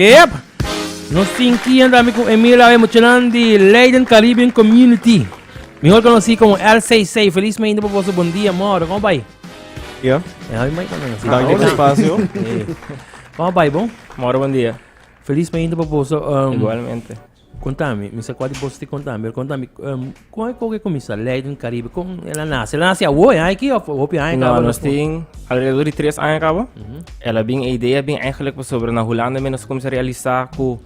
Yep! Nos tin kien ta ami ku Emil awe muchanan di Leiden Caribbean Community, mihor konosí komo LCC. Felismente pa boso bon dia, mor. Kòm a bai? Yo? Ya mi mai tambe no si. Danki pa spasio. Kòm a bai bo? Mor, bon dia. Felismente pa boso. Igualmente. Contami, mi sa cua di bos tin contami, pero contami con e coge cominsa Leiden Caribe, con el a nace? El a nace awo, e aña of hopi aña caba? No, nos tin alrededor di tres aña caba. Mm -hmm. El a bin, e idea bin eigenlijk pasobra na Hulanda mi nos cominsa realisa cu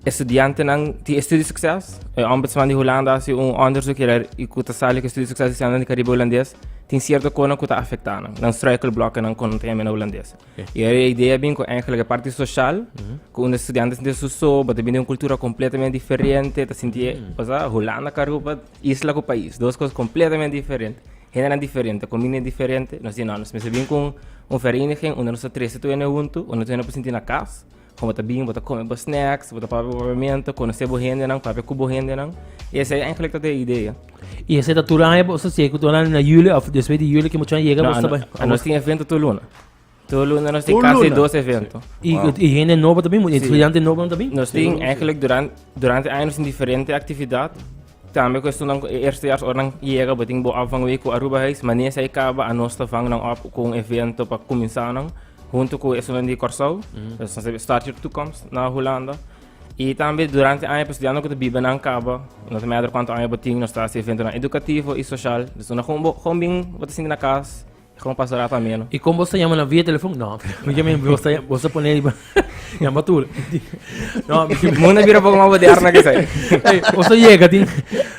estudiantenan tin e studie succes. E ombudsman di Hulanda haci un onderzoek hier y cu ta sali cu studie succes di estudiantenan di Caribe Hulandes tin cierto conan cu ta afecta nan, nan struikelblokken con teme na Hulandes. Y e idea bin cu eigenlijk e parti social, cu unda e studiante ta sinti su so, bo ta bini di un cultura completamente diferente, ta sinti e, osea, Hulanda cu Aruba, isla cu pais, dos cos completamente diferente, gentenan diferente, comindanan diferente, nos di no, nos mester bin cu un vereniging unda nos ta trece tawene huntu, unda tawene por sinti na cas. Kon bo ta bin, bo ta kome bo snacks, bo ta papia bo papiamento, konosé bo hendenan, papia ku bo hendenan. I esei enkele ta ta e idea. I esei ta tur aña bo ta sigue ku dona na yuli òf despues di yuli ku muchu a yega boso ta bai? No, anos tin evento tur luna. Tur luna nos tin kasi dos evento. Tur luna? I hende nobo ta bin? Estudiante nobonan ta bin? Nos tin enkele duran-durante aña nos tin diferente aktividat. Tambe cuestionnan cu e eerstejaars ora nan yega botin bo op van week cu Aruba Huis. Mania esaki caba anos ta van nan op cu un evento pa cuminsa nan hunto cu esunnan di Corsou. Nos ta start your toekomst na Hulanda. Y tambe durante aña pa estudianten cu ta biba nan caba, no ta matter cuanto aña bo tin, nos ta haci eventonan educativo y social. Dus unda con bo con bin bo ta sinti na cas. E como pastor Rafa meno. Y con vos ta yama na via telefon? No, mi ke men vos ta yama, vos ta pone riba yama tur. No, mi ke Muna bira poco más bodear na que sai. Hey, vos ta llega tin.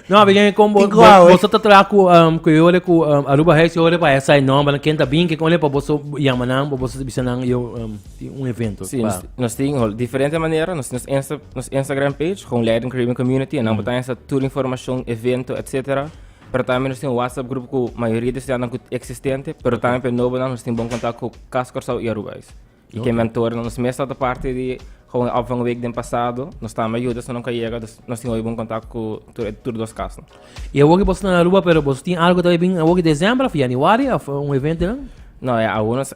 No, mi ke men con vos, Tin kuawe. vos, vos ta tra ku um, ku yole ku um, Aruba Hex yole pa esa e nomber na kenta bin ke kon le pa vos so yama nan, pa vos bisa nan yo um, tin un evento. Sí, pa- nos, nos tin hol diferente manera, nos, nos, Insta, nos Instagram page, gewoon Leiden Caribbean Community, en dan mm. insta tur information, evento, etc. Pero tambe nos tin un WhatsApp grupo cu mayoria di estudiantenan cu existente, pero tambe pe nobonan nos tin bon contact cu Cas Corsou y Aruba eis. Y ken mentoren nos mes tabata parti di Gewoon Opvang Week den pasado, nos tambe a yuda asina nunca yega, dus nos tin hoy bon contact cu tur e tur dos casnan. Y awoki boso na Aruba pero boso tin algo ta bay bin awoki december of januari of un evento nan? No, ya awor nos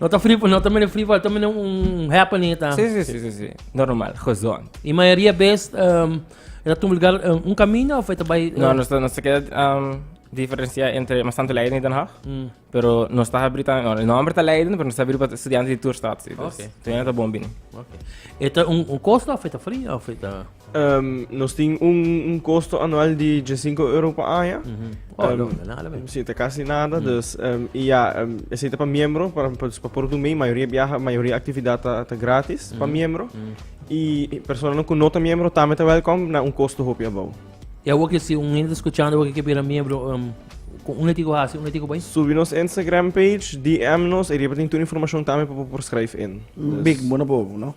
No ta free, no ta mene free fall, ta mene un happening ta. Sí, sí, sí, sí, sí. Normal, gezond. Y mayoría vez um, era tu lugar um, un camino of eta by uh, No, nos, nos queda um, diferencia entre mas tanto Leiden y Den Haag. Mm. Pero nos está abrir también, no, el nombre está Leiden, pero nos está abrir para estudiantes de Tourstad. Sí, dus, Ok. Toen het een bombini. Okay. Eta un, un costo of eta free of eta Nos tin un kosto anual di djesinku euro pa aña. Oh, no, no, nada men. Si, ta kasi nada. Dus, i ya, esei ta pa miembro, pa por dun mei. Mayoria biaha, mayoria aktividat ta gratis pa miembro. I personanan ku no ta miembro tambe ta wèlkòm na un kosto hopi abou. I awor ke si un hende ta skuchando awor ke ke bira miembro, unda tin ku hasi? Unda tin ku bai? Subi nos Instagram page, DM nos, i riba tin tur informashon tambe pa bo por skryf in. Big bo na bobo, no?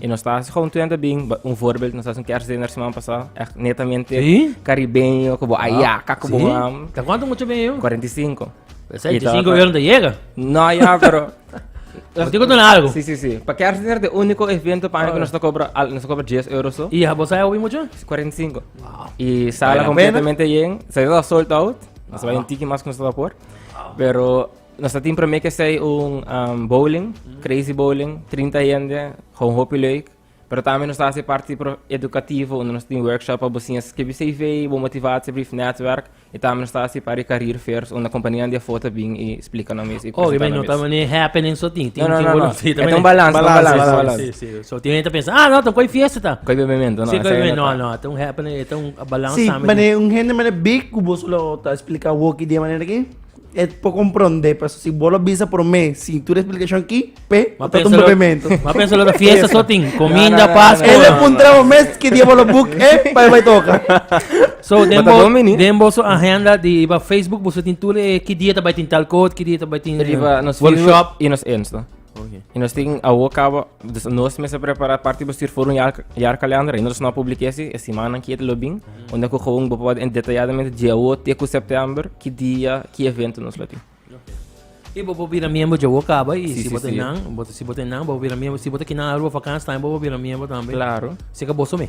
I nos ta hasi kontuente bin, ba- un voorbeeld, nos hasi un kerstdiner semana pasá, echt netamente Sí? caribeño, ku bo ayaka, ku bo Sí? mam, Ta kwanto mucha ben yo? 45. Esa Kita- 25 euro te llega. No, ya, pero... Pero tiene que tener algo. Sí, sí, sí. Pa kerstdiner, de único evento pa año que Alright. nos ta cobra, al- nos ta cobra 10 euros, so, Y a vos sabes mucho? 45. Y sala Vale la completamente bien. Se da sold out. No se va Ah. un tiki más que nos está por. Pero Nos ta tin promé ku esei un bowling, crazy bowling, trinta hende, kon hopi leuk. Pero tambe nos ta hasi parti edukativo unda nos tin workshop pa bo siña skibi CV, bo motivatiebrief, netwerk. I tambe nos ta hasi pari career fairs unda kompanianan di afor ta bin i splika nan mes i presentá nan mes. Oh, kibera no ta mane happening so tin. Tin tin wòrdu. No, no, no. E ta un balans, ta un balans, ta un balans. Sí, sí, sí. Tin hende ta pensa, ah, no, ta un koi fiesta ta. Koi bebemento, no. Sí, koi bebemento, no, no. E ta un happening, e ta un balans tambe. Sí, mane un hende mane big ku bo solo ta splika awor ki di e manera aki. E por comprende pues si vos lo bisa por mí sin tu explicación aquí pe no tanto movimiento va a pensar la fiesta so tin comida pascua él le puntraba mes que día vos lo book eh para va toca so dembo dembo so agenda di va Facebook vos tin tú le que día te va tin tal code que día te va tin workshop y nos insta Oke. I nos tin awo kaba, dus nos mester prepara parti bo stuur for un jaar, jaarkalender. I nos no a publiké si e simannan ki e ta lo bin, unda ku gewoon bo podi detalladamente dje awo te ku sèptèmber ki dia, ki evento nos lo tin. I bo por bira miembro dje awo kaba i si bo ta nan, bo ta si bo ta nan, bo por bira miembro. Si bo ta kinan aru bo vakansi tambe bo por bira miembro tambe. Klaro. Si ka boso me.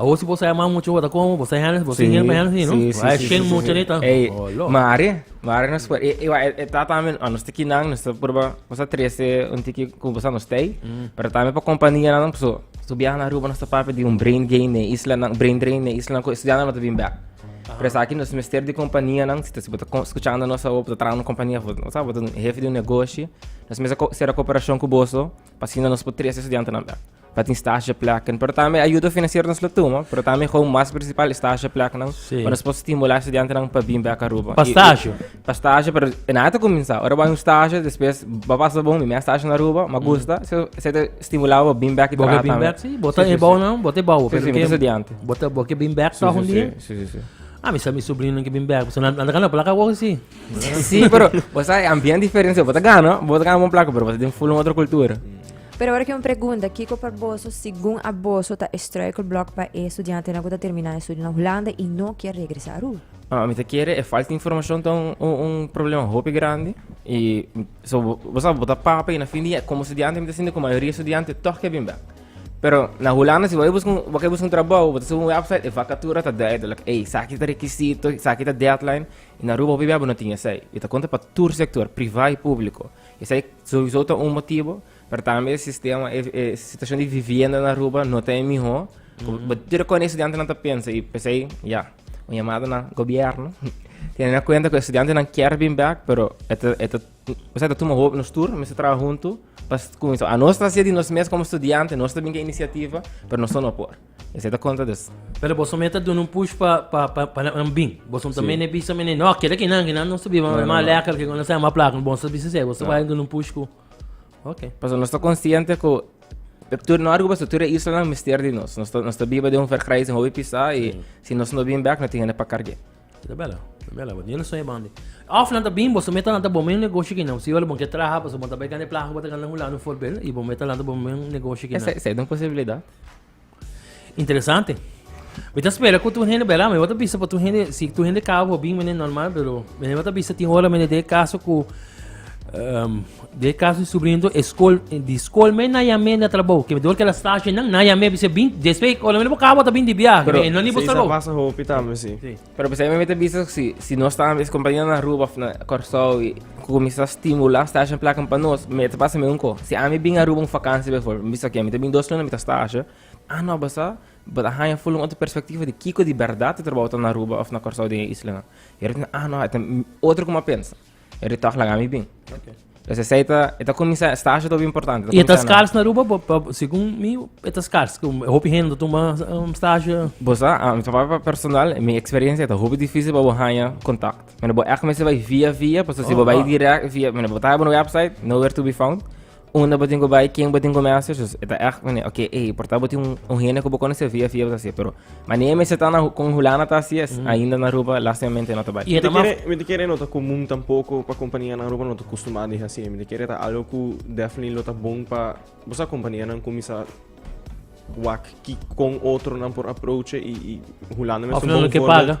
Awo si bo sai man mucha wata komo bo sai hende bo si hende pa hende si no ai shen mucha ni ta olo mare mare nos por e wa e ta tamen a nos tiki nan nos ta proba nos ta trece un tiki ku bo sa nos tei pero tamen pa kompania nan so so biaha na aruba nos ta papia di un brain gain na e isla nan brain drain na e isla nan ku estudiantenan lo ta bin bek pero esaki nos mester di kompania nan si ta si bo ta skuchando nos awo bo ta traha na un kompania bo ta bo ta un hefe di un negoshi nos mester ko sera koperashon ku boso pa asina nos por trese estudiantenan bek. pa tin stagepleknan, pero tambe ayuda finansiero nos lo tuma, pero tambe gou mas prinsipal e stagepleknan, Sí. pa nos por stimulá e studiantenan pa bin bek Aruba. Pa I- i- stage. Pa stage, pero e nada ta kuminsá. Ora bo hay un stage, despues bo pasa bon, mi mea stage na Aruba, m'a gusta, so esei ta stimulá bo bin bek i Bo ke traha bin tambe. back, sí. Bo ta Sí, sí, ebouw sí. nan, bo ta ebouw. Sí, sí, mi ta studiante. Bo ta, bo ke bin back Sí, toch sí, un sí, dia? sí, sí, sí. Ah, mi sa mi sobrinonan ke bin back. Pasen nan, nan ta gana plaka wou, sí. Sí, pero, o sea, ambiente diferente, bo ta gana, bo ta gana bon plaka, pero bo ta den full un otro cultura. Pero awor aki un pregunta, kiko pa boso, segun a boso, ta e struikelblok pa e studiantenan ku ta terminá e studio na Hulanda i no kier regresá Roo? Ah, mi ta kere e falta informashon ta un un problema hopi grandi i so bo sabi bo ta papa i na fin di e komo studiante mi ta sinti ku mayoria e studiante tòg ke bin bèk. Pero na Hulanda si bo bai buska un bo kai buska un trabou bo ta sibi un wèpsait e vakatura ta duidelik, ey esaki ta rekisito, esaki ta dèdlain i na Aruba hopi bia bo no tin esei. I ta konta pa tur sektor, privá i públiko. Esei souiso ta un motibo, pero tambe e sistema, e, e situacion di vivienda na Aruba no ta e miho. Bo tira con e estudiantenan ta pensa y pesei, ya, un yamada na gobierno, teniendo en cuenta cu e estudiantenan kier bin bek, pero e ta, e ta, osea, ta tuma hopi nos tur, mester traha hunto pa cuminsa. Anos ta hacia di nos mes como estudiante, nos ta bin cu e iniciativa, pero nos ta no por. Esei ta kontra des. Pero boso mei ta duna un push pa pa pa pa nan bin. Boso ta mei ne bisa mei ne no keda ki nan ki nan no subi mei mas lekker ki kono sa mas plaka boso ta bisa esei boso ta bai duna un push ku ok. Pasobra nos ta konsiente ku tur nor ku pasobra tur e islanan mester di nos. Nos ta nos ta biba den un verkrijs den hopi pisá i si nos no bin bèk no tin hende pa karg'é. Ta bela, ta bela bo. Di un sueño bandi. Òf nan ta bin boso mei ta lanta bo mei un negoshi ki nan siñor bo ke traha pasobra bo ta bai gana e plaka ku bo ta gana un lanu forbel i bo mei ta lanta bo mei un negoshi ki nan. Esei ta un posibilidat. Interesante. Mi ta spera ku tur hende bela, mi wata bisa pa tur hende, si tur hende kaba por bin mene normal, pero mene wata bisa tin hora mene de kaso ku um, de kaso di sobrinito e skol, di skol me na yame na trabou, ke dor ke la stashe nan na yame bisa bin despues ora mene bo kaba ta bin di biahe, pero, no ni bo trabou. Pero, pasa hopi tambe, si. Pero p'esei mi mester bisa si, si nos ta es compañeronan Aruba of na Kòrsou i ku kuminsá stimulá stasha en placa pa nos, mi ta pasa mi un kos. Si ami bin Aruba un vakansia biforbèl, mi bisa oke, mi ta bin dos luna mi ta stasha, ah nò basá bo ta haña ful un otro perspektiva di kiko di bèrdat e trabou ta na Aruba of na Kòrsou den e islanan. Ora mi ta bina, ah nò e ta otro kuma pensa. E ritoch laga mi bin. Okay. Entonces esa ita, ita comienza, esta hace todo importante. Y esta scars na Aruba, según mi, esta scars, como hopi gente toma um, stage. Vos a, a mi papá personal, mi experiencia está hopi difícil para bohanya contact. Mene bo echt mensen bij via via, pues si bo bij direct via, mene bo taya bo website, nowhere to be found. Unda bo tin ku bai, ken bo tin ku mester, soos e ta ègt un manera, oké, ey, por ta bo tin un hende ku bo konosé via via bo ta hasié, pero manera mester ta na hu kon hulana ta hasié es ainda na Aruba, lástimamente no ta bai. Mi ta kere, mi ta kere no ta komun tampoko pa kompania na Aruba no ta kustumá di hasié. Mi ta kere ta algu ku definitely lo ta bon pa, bo sa kompanianan kuminsá wak ki kon otronan por aproche i, i hulana mester un bon vorbeldPa.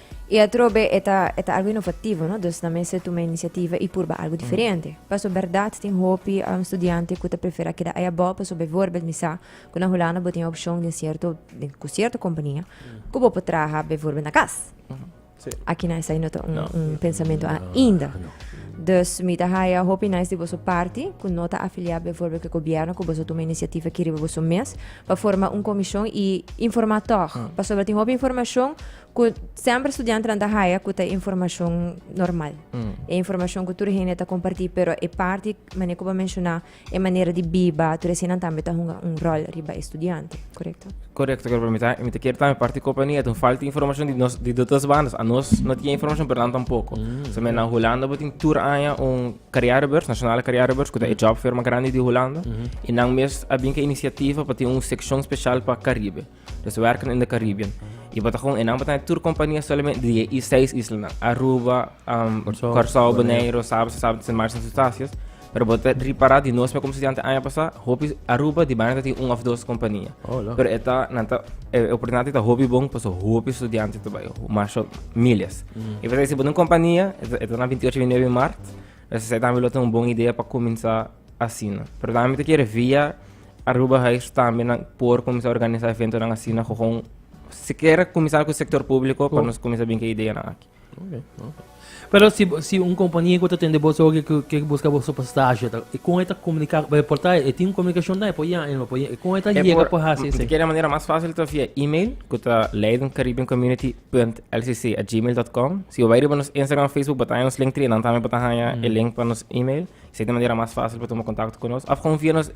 Y atrobe e ta, e ta algo inovativo, no? Dus nan mester tuma iniciativa y purba algo diferente. Paso berdad tin hopi um, studiante cu ta prefera keda ay abo, paso bijvoorbeeld mi sa cu na Hulanda bo tin e opcion den cierto, den, cu cierto compania cu bo por traha bijvoorbeeld na cas. Aki na esai no ta un, un pensamento ainda. Dus mi ta haya hopi nice di boso parti cu no ta afilia bijvoorbeeld cu e gobierno cu boso tuma iniciativa aki riba boso mes pa forma un comision y informa tog. Pasobra tin hopi informacion Cu semper studiantenan ta haya cu ta informacion normal. Mm. E informacion cu tur hende ta comparti, pero e parti, mane cuba menciona, e manera di biba, tur esinan tambe ta hunga un rol riba e studiante, correcto? Correcto, correcto. Mi ta, mi ta quiere tambe parti compañía, ten falta informacion di, nos, di dos bandas. A nos no tiene informacion, pero nan tampoco. Mm. So, men na Holanda botin tur aña un carrièrebeurs, nationale carrièrebeurs, cu ta e job firma grande di Holanda. Mm -hmm. Y nan mes a bin ca iniciativa pa tin un seccion special pa Caribe. Los werken in de Caribbean. Y bo ta gewoon, enan bo ta tur compania solamente di e seis islanan. Aruba, um, Curaçao, Curaçao, Bonaire, Saba, Saba, Sint Maarten, Sint Eustatius. Pero bo ta repará di nos me como estudiante año pasado, hopi Aruba di banda tin un of dos compania. Oh, lo. Pero eta, nanta, e oportunidad eta hopi bon, paso hopi estudiante te bayo, masho miles. Y pues si bo tin compania, eta, eta na 28, 29 maart, pues eta mi lo tin un bon idea pa comenzá asina. Pero tambe mi ta kere via Aruba Heights tambe nan por cuminsa organisa eventonan asina con siquiera cuminsa cu sector publico pa nos cuminsa bin cu e ideanan aki. Okay, okay. Pero si, si un compañía que está teniendo vos hoy que, que busca vos para stage, ¿cómo está comunicar? Pero por tal, ¿tiene una comunicación de por ya? ¿No? ¿Cómo está llega por hacer eso? Quiere manera más fácil está via email, que está leidencaribbeancommunity.lcc@gmail.com. Si o vai riba nos Instagram, Facebook, botamos nos link 3, dan también botamos el link para nos email. Si ta manera mas fácil pa tuma contacto cu nos. Of con via nos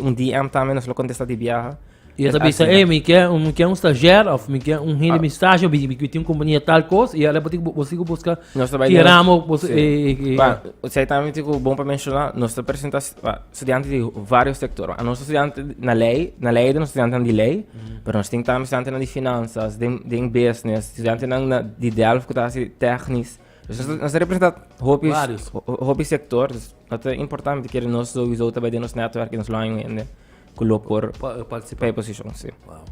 un DM también, nos lo contesta di biaha. Y yo ta bisa, hey, mi kier, mi kier un stagiair, of mi kier un hende mi stage, mi kier tin un compañía tal cos, y ale boso bo sigo busca ki ramo boso e. Ba, esei también tin cu bon pa menciona, nos ta presenta studiante di varios sector. Nos ta studiante na ley, na ley nos studiantenan di ley, pero nos tin también studiantenan di finanzas, den den business, studiantenan di Delft cu ta haci technisch. Nos ta representa hopi, hopi sector, no ta importante que nos sowieso ta bij nos netwerk en nos lo año hende ku lo por participa en position, sí. Wow.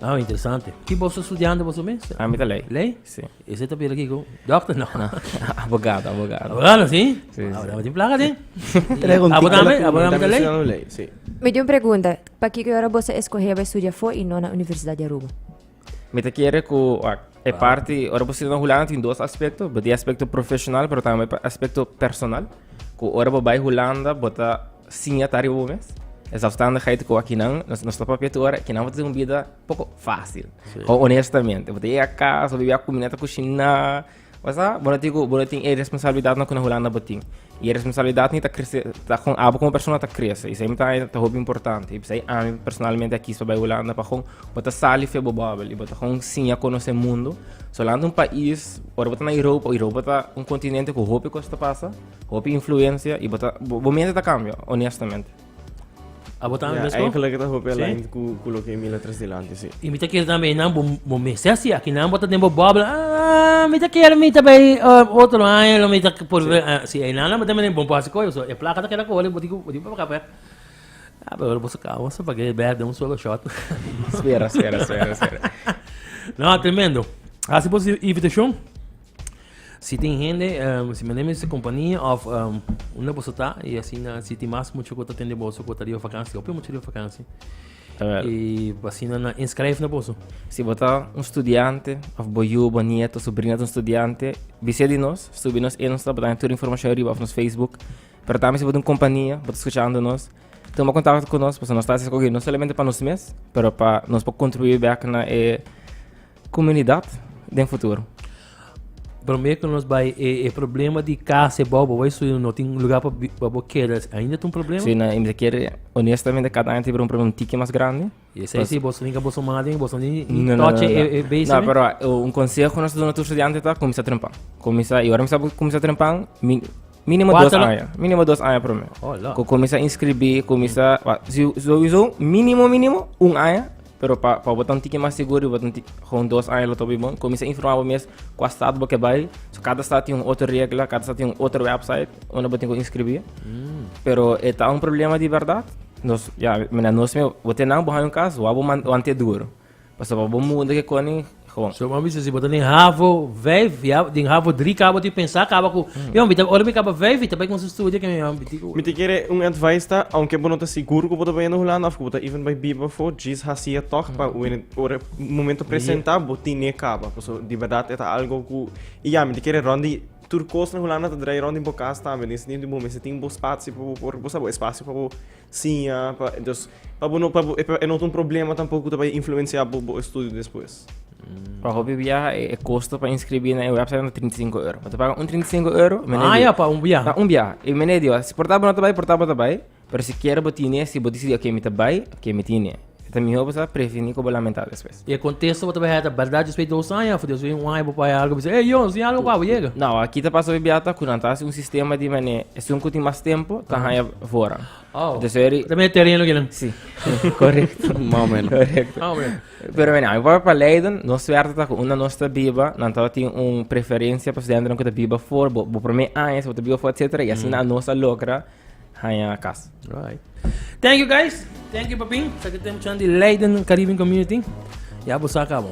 Ah, interesante. Ki boso estudiante boso mes? A mi ta lei. Lei? Sí. Ese ta pira kiko? Dokter? No. abogado, abogado. Abogado, sí? Sí. Ah, dame tin placa, sí. Aboname, aboname ta lei? Sí. Me dio un pregunta. Pa kiko ora boso escoge pa estudia fo y no na Universidad di Aruba? Mi ta kere ku e parti, ora bo sirina hulana tin dos aspekto, bo tin aspekto profesional, pero tambe aspekto personal. Ku ora bo bai Hulanda, bo ta siña ta riba bo mes. Es afstandigheid ku akinan, nos, nos ta papia tur ora, kinan bo ta tin un bida poko fásil. Sí. O honestamente, bo ta yega kas, bo ta bibia kuminda ta kushiná, Bo sa, bo no tin ku bo no tin e responsabilidatnan ku na Hulanda bo tin. I e responsabilidatnan ta krese, ta kon abo komo persona ta krese. I esei mi ta haña ta hopi importante. I p'esei ami personalmente a kis pa bai Hulanda pa kon bo ta sali for e bo bòbel i bo ta kon siña konosé mundu. So Hulanda un pais, ora bo ta na Europa, Europa ta un kontinente ku hopi kos ta pasa, hopi influensia i bo ta bo mente ta kambia onestamente. Abo tambe mesmo? Eigenlijk ta hopi aligned sí. ku, ku lo ke Mila tres delante, sí. Y mi ta kier tambe nan bo, bo mester si aki nan bota den bo bubble. Ah, mi ta kier mi ta bay uh, otro año lo mi ta por sí. Uh, si ay nan bota men bon pasi koyo so. E plaka ta keda kole boti boti pa kape. Ah, pero bosa ka bosa pa ke ber de un solo shot. espera, espera, espera, espera. no, tremendo. Hasi bosa invitación. Si tin hende, um, si mende mester compañía of um, una boso ta, y así na, si tin más mucho cota tende boso cota riba vakantie, opio mucho riba vakantie. Jawel. Y así na, na inscribe na boso. Si bo ta un studiante, of bo yu, bo nieto, sobrina ta un studiante, bisé di nos, stubi nos Insta, bo ta haya tur informacion riba of nos Facebook. Pero tambe si bo ta un compañía, bo ta escuchando nos, toma contacto con nos, paso nos ta haci escogi no solamente pa nos mes, pero pa nos pa contribuir back na e Comunidad den futuro. Prome cu nos bai e, e problema di casa e bobo bai suyo no tin lugar pa bobo queda ainda tin problema. Sí, na me quiere honestamente cada año tiene un problema un tiki más grande. Y sí, sí, vos tenés vos madre, vos no ni no, no, toche no, no. e, e base. No, pero un consejo nos dona tu estudiante ta comienza trempan. Comienza y ahora me está comienza trempan, mi Minimo dos Cuatro, no? aña. Minimo dos aña prome. Oh, lo. Ku komisa inskribí, komisa... wa- si- Sowieso, minimo, minimo, un aña. Pero pa, pa botan tiki mas seguro, i botan tiki, gewoon dos aña lo topi bon. Komisa informá bo mes kua stat bo ke bai. So, kada stat tin un otro regla, kada stat tin un otro website unda bo tin ku inskribí. Pero e ta un problema di bèrdat. Nos, ya, mina nos mismo, bo te nan, bo haña un kas, wou bo man, wan te duro. Pasa pa bo munda ke koni Juan. So bo bisa si bo ta den havo vijf ya den havo dri ka bo tin pensa kaba ku ya mi ta ora mi kaba vijf mi ta bai kuminsa studia ke mi a bini ku. Mi tin kere un advice ta aunke bo no ta sigur ku bo ta bai na Hulanda of ku bo ta even bai biba afo djis hasia tog pa wen ora momento presenta bo tine kaba paso di bèrdat e ta algo ku i ya mi ta kere rònt di tur kos na Hulanda ta drai rònt di bo kas tambe den e sentido di bo mester tin bo spatsi pa bo por bo sa bo e spasio pa bo Siña pa entonces pa bo no pa bo e no ta un problema tampoco ta bay influencia bo bo estudio despues. Pa hopi biaha e, e kosto pa inskribí na e website ta 35 euro. Bo ta paga un 35 euro, meneer Ah, Dio. ya, pa un biaha. Pa un biaha. E meneer Dio, si por ta bo no ta bai, por ta bo ta bai, pero si kier bo tine, si bo disidí ok mi ta bai, ok mi tine. E ta mihó bo sa previní ku bo lamentá despues. E kontesto bo ta bai heta bèrdat Dios bai dos aña for Dios bai un aña bo bai algu bisa ey Dios si algu pa bo yega. Nau aki ta pasa bibiata ku nan ta hasi un sistema di manera esun ku tin mas tempu ta haña fora. Oh. Entonces eri Ta me terreno kilen. Sí, correcto. Más o menos. Correcto. Ah, bueno. Pero mira, mi papá pa Leiden, nos suerte ta ku unda nos ta biba, nan ta tin un preferencia pa studentenan ku ta biba for, bo, bo promé aña si bo ta biba for, etcétera, y asina nos a logra Haña kas. Alright. Thank you guys. Thank you papin. Sa ki tem chan di Leiden Caribbean Community. Ya bo sa cabo.